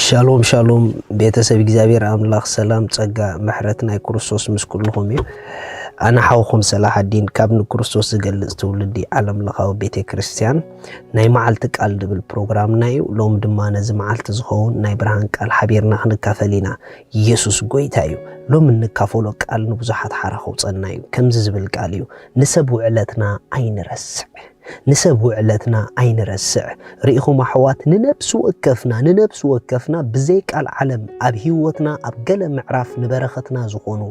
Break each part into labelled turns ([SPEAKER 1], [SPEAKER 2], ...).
[SPEAKER 1] ሻሎም ሻሎም ቤተሰብ እግዚኣብሔር ኣምላኽ ሰላም ጸጋ ምሕረት ናይ ክርስቶስ ምስ ኩልኹም እዩ ኣነ ሓውኹም ሰላሓዲን ካብ ንክርስቶስ ዝገልጽ ትውልዲ ዓለም ለኻዊ ቤተ ክርስቲያን ናይ መዓልቲ ቃል ድብል ፕሮግራምና እዩ ሎም ድማ ነዚ መዓልቲ ዝኸውን ናይ ብርሃን ቃል ሓቢርና ክንካፈል ኢና ኢየሱስ ጎይታ እዩ ሎም እንካፈሎ ቃል ንብዙሓት ሓራ ከውፀና እዩ ከምዚ ዝብል ቃል እዩ ንሰብ ውዕለትና ኣይንረስዕ ንሰብ ውዕለትና ኣይንረስዕ ርኢኹም ኣሕዋት ንነብሲ ወከፍና ንነብሲ ወከፍና ብዘይ ቃልዓለም ኣብ ሂወትና ኣብ ገለ ምዕራፍ ንበረኸትና ዝኾኑ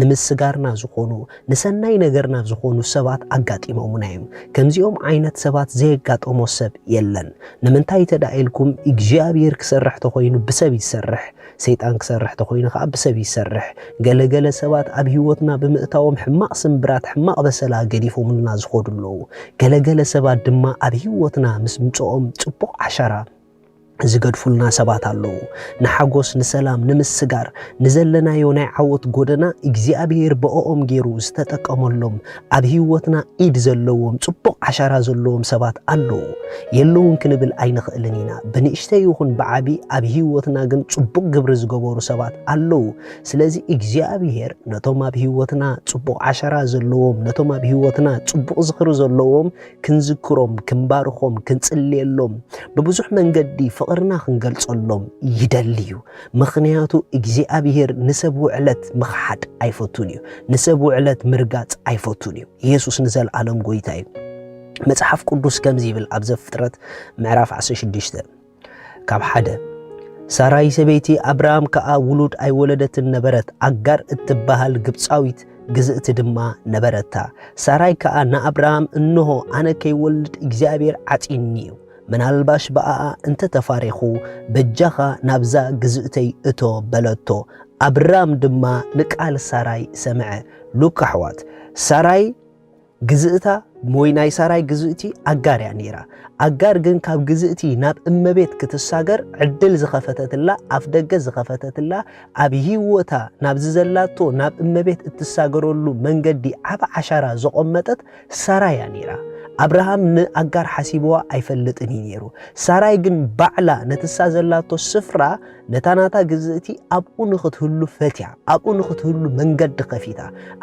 [SPEAKER 1] ንምስጋርና ዝኾኑ ንሰናይ ነገርና ዝኾኑ ሰባት ኣጋጢሞሙና እዮም ከምዚኦም ዓይነት ሰባት ዘየጋጠሞ ሰብ የለን ንምንታይ ተዳኢልኩም እግዚኣብሔር ክሰርሕ ተኾይኑ ብሰብ ይሰርሕ ሰይጣን ክሰርሕ ተኾይኑ ከኣ ብሰብ ይሰርሕ። ገለ ገለ ሰባት ኣብ ህይወትና ብምእታዎም ሕማቕ ስምብራት ሕማቕ በሰላ ገዲፎምልና ዝኸዱ ኣለዉ። ገለ ገለ ሰባት ድማ ኣብ ህይወትና ምስ ምጽኦም ጽቡቕ ዓሻራ ዝገድፉልና ሰባት ኣለዉ። ንሓጎስ ንሰላም ንምስጋር ንዘለናዮ ናይ ዓወት ጎደና እግዚኣብሄር ብእኦም ጌሩ ዝተጠቀመሎም ኣብ ህይወትና ኢድ ዘለዎም ጽቡቕ ዓሻራ ዘለዎም ሰባት ኣለዉ የለዉን ክንብል ኣይንኽእልን ኢና። ብንእሽተይ ይኹን ብዓቢ ኣብ ህይወትና ግን ጽቡቕ ግብሪ ዝገበሩ ሰባት ኣለዉ። ስለዚ እግዚኣብሄር ነቶም ኣብ ህይወትና ጽቡቕ ዓሻራ ዘለዎም ነቶም ኣብ ህይወትና ጽቡቕ ዝኽሪ ዘለዎም ክንዝክሮም፣ ክንባርኾም፣ ክንጽልየሎም፣ ብብዙሕ መንገዲ ፍቕርና ክንገልጸሎም ይደሊ እዩ። ምኽንያቱ እግዚኣብሄር ንሰብ ውዕለት ምኽሓድ ኣይፈቱን እዩ። ንሰብ ውዕለት ምርጋጽ ኣይፈቱን እዩ። ኢየሱስ ንዘለዓለም ጎይታ እዩ። መጽሓፍ ቅዱስ ከምዚ ይብል ኣብ ዘፍጥረት ምዕራፍ 16 ካብ ሓደ ሳራይ ሰበይቲ ኣብርሃም ከኣ ውሉድ ኣይወለደትን ነበረት፣ ኣጋር እትበሃል ግብፃዊት ግዝእቲ ድማ ነበረታ። ሳራይ ከኣ ንኣብርሃም እንሆ ኣነ ከይወልድ እግዚኣብሔር ዓጺኒ እዩ ምናልባሽ ብኣኣ እንተ ተፋሪኹ፣ በጃኻ ናብዛ ግዝእተይ እቶ በለቶ። ኣብራም ድማ ንቃል ሳራይ ሰምዐ። ሉክ ኣሕዋት፣ ሳራይ ግዝእታ ወይ ናይ ሳራይ ግዝእቲ ኣጋር እያ ነይራ። ኣጋር ግን ካብ ግዝእቲ ናብ እመቤት ክትሳገር ዕድል ዝኸፈተትላ ኣፍ ደገ ዝኸፈተትላ ኣብ ህይወታ ናብዚ ዘላቶ ናብ እመቤት እትሳገረሉ መንገዲ ዓብ ዓሻራ ዘቖመጠት ሳራ እያ ነይራ። ኣብርሃም ንኣጋር ሓሲብዋ ኣይፈልጥን እዩ ነይሩ። ሳራይ ግን ባዕላ ነቲ እሳ ዘላቶ ስፍራ ነታ ናታ ግዝእቲ ኣብኡ ንኽትህሉ ፈትያ፣ ኣብኡ ንኽትህሉ መንገዲ ከፊታ፣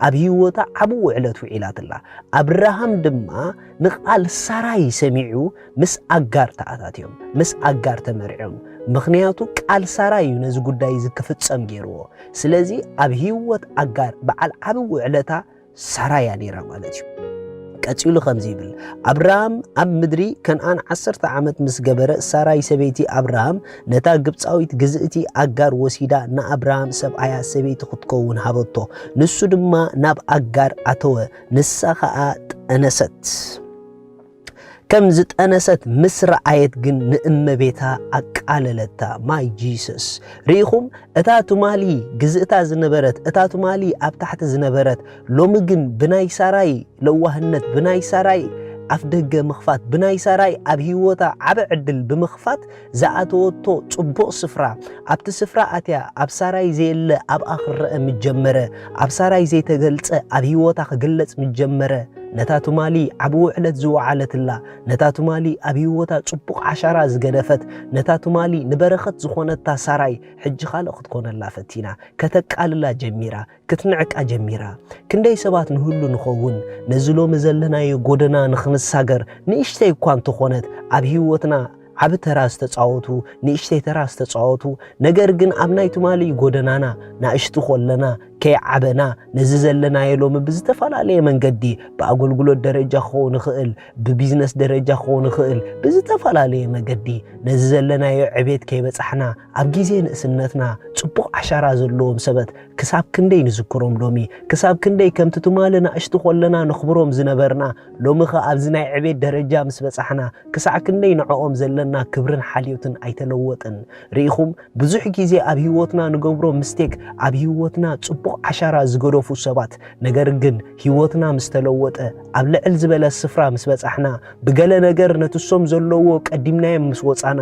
[SPEAKER 1] ኣብ ህይወታ ዓብ ውዕለት ውዒላትላ። ኣብርሃም ድማ ንቓል ሳራይ ሰሚዑ ምስ ኣጋር ተኣታትዮም፣ ምስ ኣጋር ተመርዕዮም። ምኽንያቱ ቃል ሳራ እዩ ነዚ ጉዳይ እዚ ክፍጸም ገይርዎ። ስለዚ ኣብ ህይወት ኣጋር በዓል ዓብ ውዕለታ ሳራ እያ ነይራ ማለት እዩ። ቀጺሉ ከምዚ ይብል፣ ኣብርሃም ኣብ ምድሪ ከንኣን ዓሰርተ ዓመት ምስ ገበረ፣ ሳራይ ሰበይቲ ኣብርሃም ነታ ግብጻዊት ግዝእቲ ኣጋር ወሲዳ ንኣብርሃም ሰብኣያ ሰበይቲ ክትከውን ሃበቶ። ንሱ ድማ ናብ ኣጋር ኣተወ፣ ንሳ ኸኣ ጠነሰት። ከም ዝጠነሰት ምስ ረኣየት ግን ንእመቤታ ኣቃለለታ። ማይ ጂሰስ ርኢኹም፣ እታ ትማሊ ግዝእታ ዝነበረት እታ ትማሊ ኣብ ታሕቲ ዝነበረት ሎሚ ግን ብናይ ሳራይ ለዋህነት ብናይ ሳራይ ኣፍ ደገ ምኽፋት ብናይ ሳራይ ኣብ ህይወታ ዓበ ዕድል ብምኽፋት ዝኣተወቶ ጽቡቕ ስፍራ፣ ኣብቲ ስፍራ ኣትያ ኣብ ሳራይ ዘየለ ኣብኣ ክረኣ ምስ ጀመረ፣ ኣብ ሳራይ ዘይተገልጸ ኣብ ህይወታ ክግለጽ ምስ ጀመረ፣ ነታ ትማሊ ዓቢ ውዕለት ዝወዓለትላ፣ ነታ ትማሊ ኣብ ህይወታ ጽቡቕ ዓሻራ ዝገደፈት፣ ነታ ትማሊ ንበረኸት ዝኾነታ ሳራይ ሕጂ ካልእ ክትኮነላ ፈቲና፣ ከተቃልላ ጀሚራ። ክትንዕቃ ጀሚራ። ክንደይ ሰባት ንህሉ ንኸውን፣ ነዚ ሎሚ ዘለናዮ ጎደና ንኽንሳገር ንእሽተይ እኳ እንተኾነት ኣብ ህይወትና ዓቢ ተራ ዝተጻወቱ፣ ንእሽተይ ተራ ዝተጻወቱ፣ ነገር ግን ኣብ ናይ ትማሊ ጎደናና ናእሽቱ ኮለና ከይዓበና ነዚ ዘለናዮ ሎሚ ብዝተፈላለየ መንገዲ ብኣገልግሎት ደረጃ ክኸውን ይኽእል፣ ብቢዝነስ ደረጃ ክኸውን ይኽእል፣ ብዝተፈላለየ መገዲ ነዚ ዘለናዮ ዕቤት ከይበጻሕና ኣብ ግዜ ንእስነትና ጽቡቕ ዓሻራ ዘለዎም ሰበት ክሳብ ክንደይ ንዝክሮም ሎሚ፣ ክሳብ ክንደይ ከምቲ ትማሊ ናእሽቱ ኮለና ነኽብሮም ዝነበርና፣ ሎሚኸ ኣብዚ ናይ ዕቤት ደረጃ ምስ በጻሕና ክሳዕ ክንደይ ንዕኦም ዘለና ክብርን ሓልዮትን ኣይተለወጠን። ርኢኹም፣ ብዙሕ ግዜ ኣብ ህይወትና ንገብሮ ምስተክ ኣብ ህይወትና ጽቡቕ ዓሻራ ዝገደፉ ሰባት፣ ነገር ግን ህይወትና ምስ ተለወጠ፣ ኣብ ልዕል ዝበለ ስፍራ ምስ በጻሕና፣ ብገለ ነገር ነቲ እሶም ዘለዉዎ ቀዲምናዮም ምስ ወጻና፣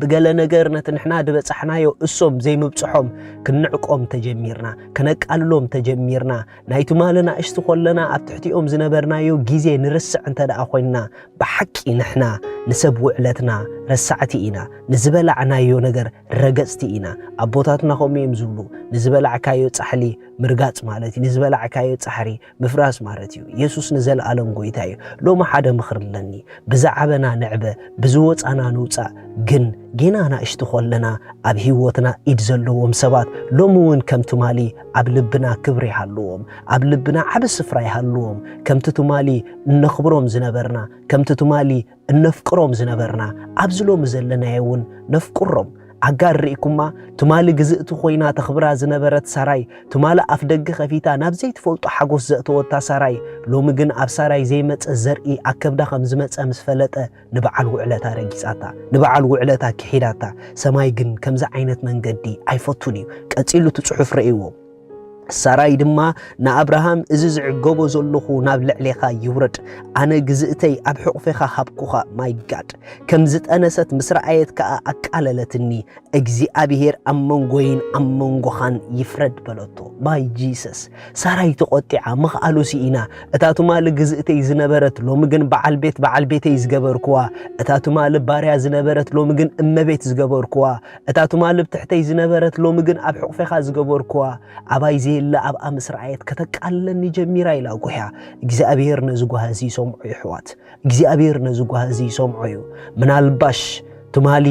[SPEAKER 1] ብገለ ነገር ነቲ ንሕና ድበጻሕናዮ እሶም ዘይምብጽሖም ክንዕቆም ተጀሚርና ከነቃልሎም ተጀሚርና ናይ ትማሊ ናእሽቲ ኮለና ኣብ ትሕቲኦም ዝነበርናዮ ግዜ ንርስዕ እንተ ደኣ ኮይንና ብሓቂ ንሕና ንሰብ ውዕለትና ረሳዕቲ ኢና ንዝበላዕናዮ ነገር ረገጽቲ ኢና ኣቦታትና ከምኡ እዮም ዝብሉ ንዝበላዕካዮ ጻሕሊ ምርጋጽ ማለት እዩ ንዝበላዕካዮ ጻሕሪ ምፍራስ ማለት እዩ። የሱስ ንዘልኣለም ጎይታ እዩ። ሎሚ ሓደ ምኽሪ ኣለኒ፣ ብዝዓበና ንዕበ፣ ብዝወጻና ንውጻእ፣ ግን ጌና ናእሽቲ ኮለና ኣብ ህይወትና ኢድ ዘለዎም ሰባት ሎሚ እውን ከም ትማሊ ኣብ ልብና ክብሪ ይሃልዎም፣ ኣብ ልብና ዓቢ ስፍራ ይሃልዎም፣ ከምቲ ትማሊ እነኽብሮም ዝነበርና፣ ከምቲ ትማሊ እነፍቅሮም ዝነበርና ኣብዚ ሎሚ ዘለናዮ እውን ነፍቅሮም። ኣጋር ርኢኩማ? ትማሊ ግዝእቲ ኮይና ተኽብራ ዝነበረት ሳራይ፣ ትማሊ ኣፍደገ ከፊታ ናብ ዘይትፈልጦ ሓጎስ ዘእተወታ ሳራይ፣ ሎሚ ግን ኣብ ሳራይ ዘይመጸ ዘርኢ ኣብ ከብዳ ከም ዝመጸ ምስ ፈለጠ ንበዓል ውዕለታ ረጊጻታ። ንበዓል ውዕለታ ክሒዳታ። ሰማይ ግን ከምዚ ዓይነት መንገዲ ኣይፈቱን እዩ። ቀጺሉ እቲ ጽሑፍ ረእይዎ። ሳራይ ድማ ንኣብርሃም እዚ ዝዕገቦ ዘለኹ ናብ ልዕሌኻ ይውረድ፣ ኣነ ግዝእተይ ኣብ ሕቑፌኻ ሃብኩኻ። ማይ ጋድ ከም ዝጠነሰት ምስ ረኣየት ከኣ ኣቃለለትኒ፣ እግዚኣብሄር ኣብ መንጎይን ኣብ መንጎኻን ይፍረድ በለቶ። ማይ ጂሰስ ሳራይ ተቖጢዓ ምኽኣሉ ስኢና። እታ ትማሊ ግዝእተይ ዝነበረት ሎሚ ግን በዓል ቤት በዓል ቤተይ ዝገበርኩዋ፣ እታ ትማሊ ባርያ ዝነበረት ሎሚ ግን እመቤት ዝገበርኩዋ፣ እታ ትማሊ ብ ትሕተይ ዝነበረት ሎሚ ግን ኣብ ሕቑፌኻ ዝገበርኩዋ ኣባይ ዘየለ ኣብኣ ምስ ረኣየት ከተቃልለኒ ጀሚራ ኢላ ጉሕያ እግዚኣብሄር ነዚ ጓሂ እዚ ይሰምዖ ዩ ኣሕዋት እግዚኣብሄር ነዚ ጓሂ እዚ ይሰምዖ ዩ ምናልባሽ ትማሊ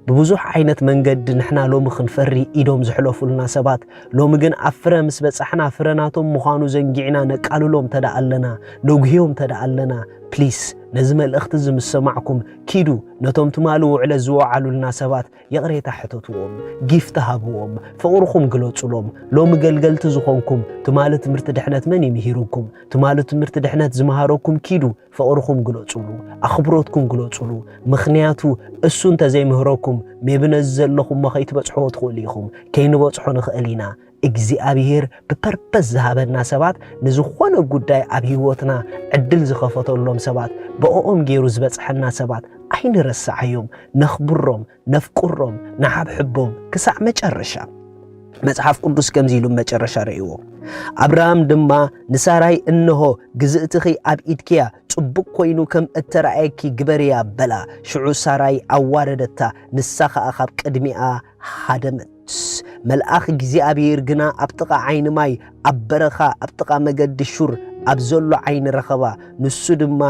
[SPEAKER 1] ብብዙሕ ዓይነት መንገዲ ንሕና ሎሚ ክንፈሪ ኢዶም ዝሕለፉልና ሰባት ሎሚ ግን ኣብ ፍረ ምስ በጻሕና ፍረ ናቶም ምዃኑ ዘንጊዕና ነቃልሎም ተደኣ ኣለና ነጉህዮም ተደኣ ኣለና ፕሊስ ነዚ መልእኽቲ እዚ ምስ ሰማዕኩም ኪዱ ነቶም ትማሊ ውዕለት ዝወዓሉልና ሰባት ይቕሬታ ሕተትዎም፣ ጊፍት ሃብዎም፣ ፍቕርኹም ግለጹሎም። ሎሚ ገልገልቲ ዝኾንኩም ትማሊ ትምህርቲ ድሕነት መን እዩ ምሂሩኩም? ትማሊ ትምህርቲ ድሕነት ዝመሃረኩም ኪዱ ፍቕርኹም ግለጹሉ፣ ኣኽብሮትኩም ግለጹሉ። ምኽንያቱ እሱ እንተዘይምህረኩም ሜቢ ነዚ ዘለኹሞ ከይትበጽሕዎ ትኽእሉ ኢኹም፣ ከይንበጽሖ ንኽእል ኢና። እግዚኣብሄር ብፐርፐስ ዝሃበና ሰባት ንዝኾነ ጉዳይ ኣብ ህይወትና ዕድል ዝኸፈተሎም ሰባት ብኦኦም ገይሩ ዝበጽሐና ሰባት ኣይንረስዓዮም ነኽብሮም ነፍቅሮም ንሓብሕቦም ክሳዕ መጨረሻ መጽሓፍ ቅዱስ ከምዚ ኢሉ መጨረሻ ረእይዎ ኣብርሃም ድማ ንሳራይ እንሆ ግዝእትኺ ኣብ ኢድኪያ ጽቡቕ ኮይኑ ከም እተረኣየኪ ግበርያ በላ ሽዑ ሳራይ ኣዋረደታ ንሳ ኸኣ ኻብ ቅድሚኣ ሃደመት። መልኣኽ እግዚኣብሄር ግና ኣብ ጥቓ ዓይኒ ማይ፣ ኣብ በረኻ፣ ኣብ ጥቓ መገዲ ሹር ኣብ ዘሎ ዓይኒ ረኸባ። ንሱ ድማ፣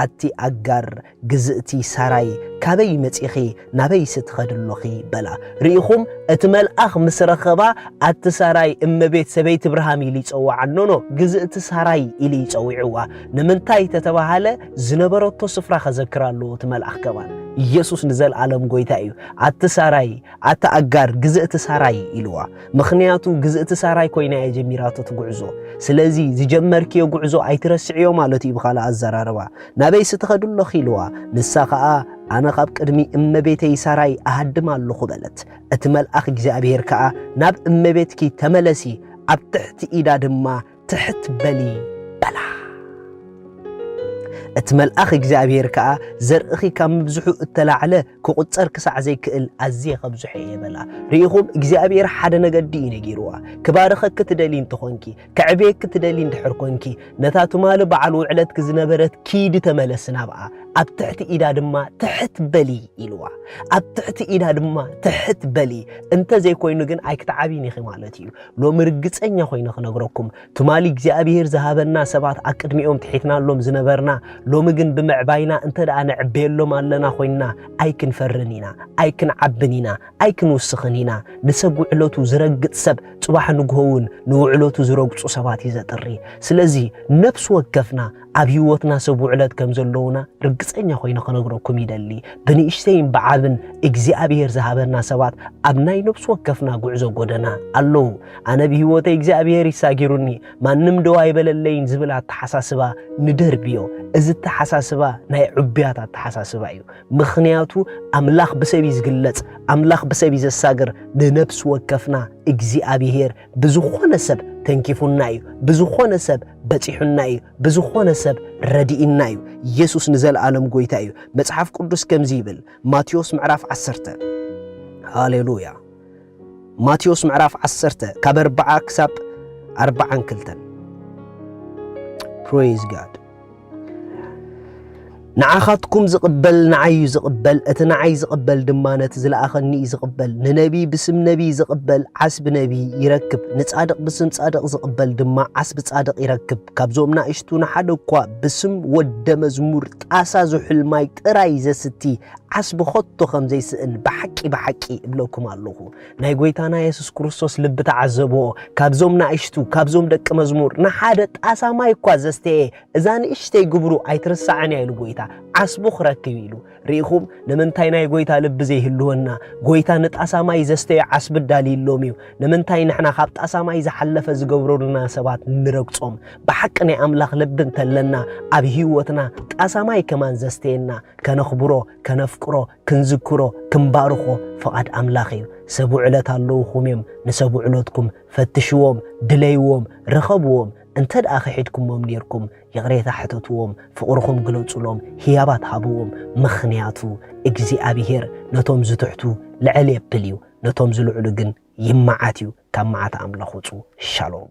[SPEAKER 1] ኣቲ ኣጋር፣ ግዝእቲ ሳራይ፣ ካበይ መጺኺ፣ ናበይሲ ትኸዲ ኣሎኺ? በላ። ርኢኹም፣ እቲ መልኣኽ ምስ ረኸባ፣ ኣቲ ሳራይ፣ እመቤት፣ ሰበይቲ እብርሃም ኢሉ ይጸውዓ። ኖኖ፣ ግዝእቲ ሳራይ ኢሉ እዩ ጸዊዕዋ። ንምንታይ ተተባህለ? ዝነበረቶ ስፍራ ከዘክር ኣለዎ እቲ መልኣኽ ከማን ኢየሱስ ንዘልዓለም ጎይታ እዩ ኣቲ ሳራይ ኣቲ ኣጋር ግዝእቲ ሳራይ ኢልዋ ምኽንያቱ ግዝእቲ ሳራይ ኮይና እየ ጀሚራቶ ትጉዕዞ ስለዚ ዝጀመርክዮ ጉዕዞ ኣይትረስዕዮ ማለት እዩ ብኻልእ ኣዘራርባ ናበይ ስትኸዱ ኣለኺ ኢልዋ ንሳ ኸኣ ኣነ ኻብ ቅድሚ እመቤተይ ሳራይ ኣሃድም ኣለኹ በለት እቲ መልኣኽ እግዚኣብሔር ከኣ ናብ እመቤትኪ ተመለሲ ኣብ ትሕቲ ኢዳ ድማ ትሕት በሊ በላ። እቲ መልኣኽ እግዚኣብሔር ከኣ ዘርእኺ ካብ ምብዝሑ እተላዕለ ክቝጸር ክሳዕ ዘይክእል ኣዝየ ከብዝሖ እየ በላ። ርኢኹም እግዚኣብሔር ሓደ ነገዲ እዩ ነጊርዋ። ክባርኸኪ ትደሊ እንተኾንኪ፣ ከዕብየኪ ትደሊ እንድሕር ኮንኪ፣ ነታ ትማሊ በዓል ውዕለትኪ ዝነበረት ኪዲ ተመለሲ ናብኣ፣ ኣብ ትሕቲ ኢዳ ድማ ትሕት በሊ ኢልዋ። ኣብ ትሕቲ ኢዳ ድማ ትሕት በሊ እንተ ዘይኮይኑ ግን ኣይክትዓብይን ኢኺ ማለት እዩ። ሎሚ ርግጸኛ ኮይነ ክነግረኩም ትማሊ እግዚኣብሄር ዝሃበና ሰባት ኣቅድሚኦም ትሒትናሎም ዝነበርና ሎሚ ግን ብምዕባይና እንተ ደኣ ንዕበየሎም ኣለና ኮይንና ኣይክንፈርን ኢና ኣይክንዓብን ኢና ኣይክንውስኽን ኢና ንሰብ ውዕለቱ ዝረግጽ ሰብ ጽባሕ ንግሆ እውን ንውዕለቱ ዝረግጹ ሰባት እዩ ዘጥሪ ስለዚ ነፍሲ ወከፍና ኣብ ህይወትና ሰቡዕለት ከም ዘለዉና ርግጸኛ ኮይነ ክነግረኩም ይደሊ። ብንእሽተይን ብዓብን እግዚኣብሄር ዝሃበና ሰባት ኣብ ናይ ነብሲ ወከፍና ጉዕዞ ጎደና ኣለዉ። ኣነ ብህይወተይ እግዚኣብሄር እዩ ሳጊሩኒ ማንም ደው ኣይበለለይን ዝብል ኣተሓሳስባ ንደርብዮ። እዚ ኣተሓሳስባ ናይ ዕቡያት ኣተሓሳስባ እዩ። ምኽንያቱ ኣምላኽ ብሰብ እዩ ዝግለጽ ኣምላኽ ብሰብ እዩ ዘሳግር ንነብሲ ወከፍና እግዚኣብሄር ብዝኾነ ሰብ ተንኪፉና እዩ፣ ብዝኾነ ሰብ በጺሑና እዩ፣ ብዝኾነ ሰብ ረዲእና እዩ። ኢየሱስ ንዘለዓለም ጎይታ እዩ። መጽሓፍ ቅዱስ ከምዚ ይብል ማቴዎስ ምዕራፍ ዓሰርተ ሃሌሉያ ማቴዎስ ምዕራፍ ዓሰርተ ካብ ኣርባዓ ክሳብ ኣርባዓን ክልተን ፕሮይዝ ጋድ ንዓኻትኩም ዝቕበል ንዓይ እዩ ዝቕበል፣ እቲ ንዓይ ዝቕበል ድማ ነቲ ዝለኣኸኒ እዩ ዝቕበል። ንነቢይ ብስም ነቢይ ዝቕበል ዓስቢ ነቢይ ይረክብ፣ ንጻድቕ ብስም ጻድቕ ዝቕበል ድማ ዓስቢ ጻድቕ ይረክብ። ካብዞም ናእሽቱ ንሓደ እኳ ብስም ወደ መዝሙር ጣሳ ዝሑል ማይ ጥራይ ዘስቲ ዓስቢ ኸቶ ከም ዘይስእን ብሓቂ ብሓቂ እብለኩም ኣለኹ። ናይ ጎይታና የሱስ ክርስቶስ ልቢ ተዓዘብኦ። ካብዞም ናእሽቱ፣ ካብዞም ደቂ መዝሙር፣ ንሓደ ጣሳ ማይ እኳ ዘስተየ እዛ ንእሽተይ ግብሩ ኣይትርሳዕን እያ ኢሉ ጎይታ ዓስቡ ክረክብ ኢሉ። ርኢኹም ንምንታይ ናይ ጎይታ ልቢ ዘይህልወና? ጎይታ ንጣሳ ማይ ዘስተየ ዓስቢ ኣዳልዩሎም እዩ። ንምንታይ ንሕና ካብ ጣሳ ማይ ዝሓለፈ ዝገብረሉና ሰባት ንረግጾም? ብሓቂ ናይ ኣምላኽ ልቢ እንተለና ኣብ ህይወትና ጣሳ ማይ ከማን ዘስተየና ከነኽብሮ፣ ከነፍቅሮ፣ ክንዝክሮ ክንባርኾ ፍቓድ ኣምላኽ እዩ። ሰብ ውዕለት ኣለዉኹም እዮም፣ ንሰብ ውዕለትኩም ፈትሽዎም፣ ድለይዎም፣ ርኸብዎም፣ እንተ ደኣ ኺሒድኩሞም ኔርኩም ይቕሬታ ሕተትዎም፣ ፍቕርኹም ግለጹሎም፣ ህያባት ሃብዎም፣ ምኽንያቱ እግዚኣብሄር ነቶም ዝትሕቱ ልዕል የብል እዩ፣ ነቶም ዝልዕሉ ግን ይመዓት እዩ፣ ካብ መዓት ኣምላኽ ውጹ። ሻሎም።